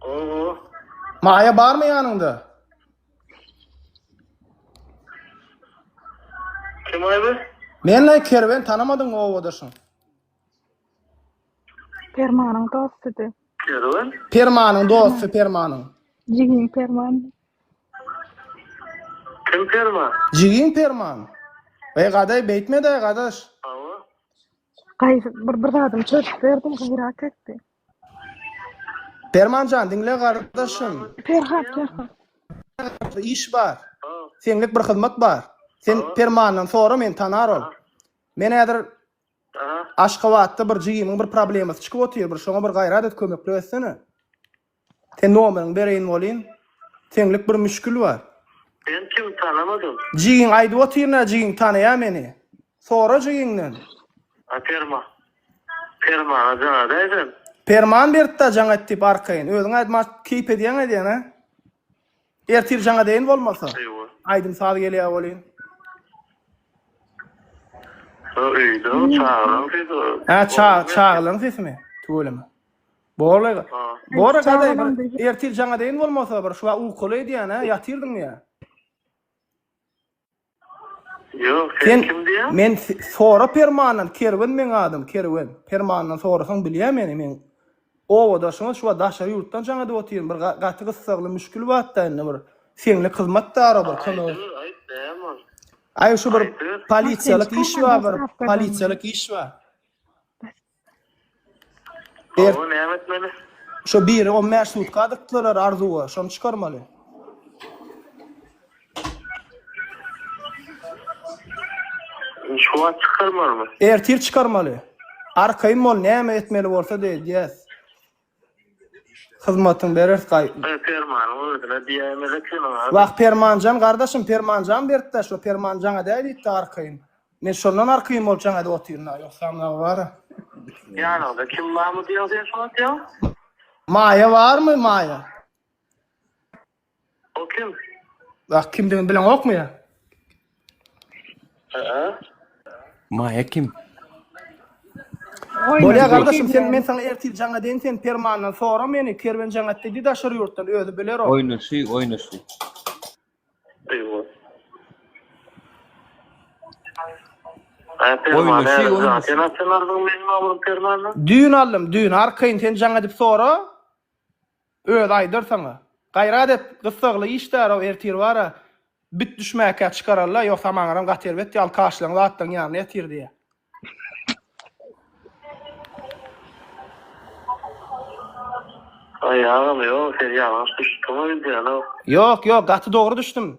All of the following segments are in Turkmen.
Gogo. Maýa barmy ýanyňda? Kim aýby? Men la kerwen tanamadyňmy obadaşyň? Permanyň dostudy. Kerwen. Permanyň dosty Permanyň. Jigin Perman. Kim perma? Jigin Perman. Ey gadaý beýtme-de gadaş. Gaýgy bir bir zadymy çözüp berdim, gaýrat etdi. Perman jan, diňle gardaşym. Perhat, Perhat. Bir iş bar. Seňlik bir hyzmat bar. Sen Permandan sora, meni tanar ol. Men häzir Aşgabatda bir jigimiň bir problemasy çykyp otyr, bir şoňa bir gaýrat et, kömeklik etsene. Sen nomeriňi bereýin bolyn. Seňlik bir müşgil bar. Sen kim tanamadym. Jigin aýdyp otyr nä jigin tanaýa meni. Sora jigiňden. A perma. Permana jaň edäý sen. Perman beripda jaň et diýip arkaýyn. Özüň aýt maňa keýp edýäň edýän a. Ertir jaň edeýin bolmasa. Aýdym saz gelýä bolyn. Öýde çagylaň sesi. Hä çagylaň sesimi. Tüweleme. Borly. Bora gaday bir ertir jaňa deyin bolmasa bir şuwa ukaly edýän ha ýatyrdyň ýa. Ýok, sen kim diýýän? Men Sora Permandan, Kerwen meň adym, Kerwen. Permandan sorasaň bilýär meni, men owadaşyňyz şuwa daşary ýurtdan jaň edip otyryn, bir gaty gyssagly müşkil batda indi bir. Seňle hyzmatdara bir kömek. Aýt, näme ol? Aý şu bir polisiýalyk iş bar, bir polisiýalyk iş bar. Ber. Oňa näme etmeli? Şo biri on bäş sutka dykdylar Arzuwa, şony çykarmaly. Şu wagt çykarmalymy? Ertir çykarmaly. Arkaýyn bol, näme etmeli bolsa-da edýäs. Hyzmatyň beres gaý. Gyz Permanyň özüne diýäýmez ekeniň a. Wah Permanjan gardaşym Permanjan berkdä şo Permanjana däý diýipdi arkaýyn. Men şondan arkaýyn bolup jaňada otyryn a ýogsam name bara. Ýanyňda kim barmy diýeň sen şuwagt ýa. Maýa barmy Maýa. O kim? Bak kimdigini bileňokmy ya? Aa. Maýa kim? Oýna, Bolýa gardaşym sen bilýän. men saňa ertir jaňa deýin sen permandan sora meni kerwen jaňat dedi daşary ýurtdan özi biler o. Oýnaşy, oýnaşy. Eýwa. Ay Oýnaşy, permane oýnaşy. zaten atsalardyň meniň amurum permane. Düýn aldym düýn arkaýyn sen jaňa dip sora. Özi aýdar saňa. Gaýrat et, gyssagly işdärow ertir bar-a, bit düşmäkä çykararla, ýogsa maňaram gaty erbet ýaly kaşlaň zatlaň ýanyna ýatyr diýýä. Aý agam ýok sen ýalňyş düşüpsiň o wideona. Ýok ýok gaty dogry düşdüm.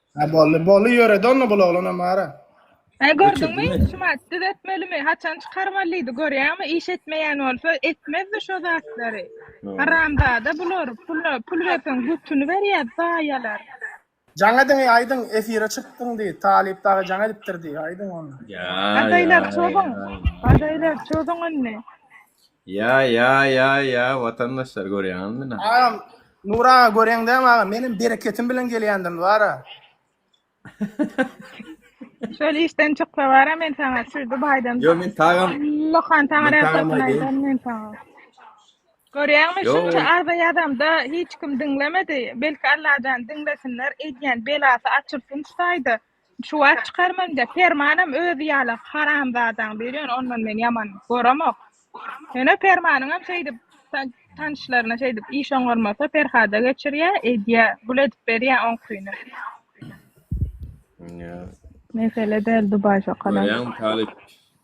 Ha bolly bolly ýöredi onda bul oglana mara. He gördüňmi? Göçürdin Şumat düzetmelimi? Haçan çykarmalydy görýäňmi? Iş etmeýän bolsa etmezdi şo zatlary. Haramzada bular. Pula pul berseň götüni berýär zaýalar. Jaň ediň aýdyň efire çykdyň diý. Talyp dagy jaň edipdir diý. Aýdyň onda. Ýa. Gadaýlar çozuň. Gadaýlar çozuň indi. Ýa ýa ýa ýa watandaşlar görýäňiz mi na. Agam Nur aga göreň dämi agam menem bereketim bilen gelýändim bara. Şol işden çyksa bara men saňa şu Dubaýdan Yo men tagam lokantana Men tagama receptini gelin. aýdaryn men saňa. Görýäňmi Yo. şunça arza ýazamda hiç kim diňlemedi. Belki Allajan diňlesinler edýän belasy açylsyn şu taýda. Şu wagt çykarman de permanam özi ýaly haramzadaň biri ýöne ondan men ýaman goremok. Ýöne permanyňam şeýdip ta- tanyşlaryna şeýdip iş oňarmasa Perhada geçirýä, edýä, gül edip berýä oňkyny. Ýa. Mesele däl Dubaý şokalam. Görýäňmi Talyp?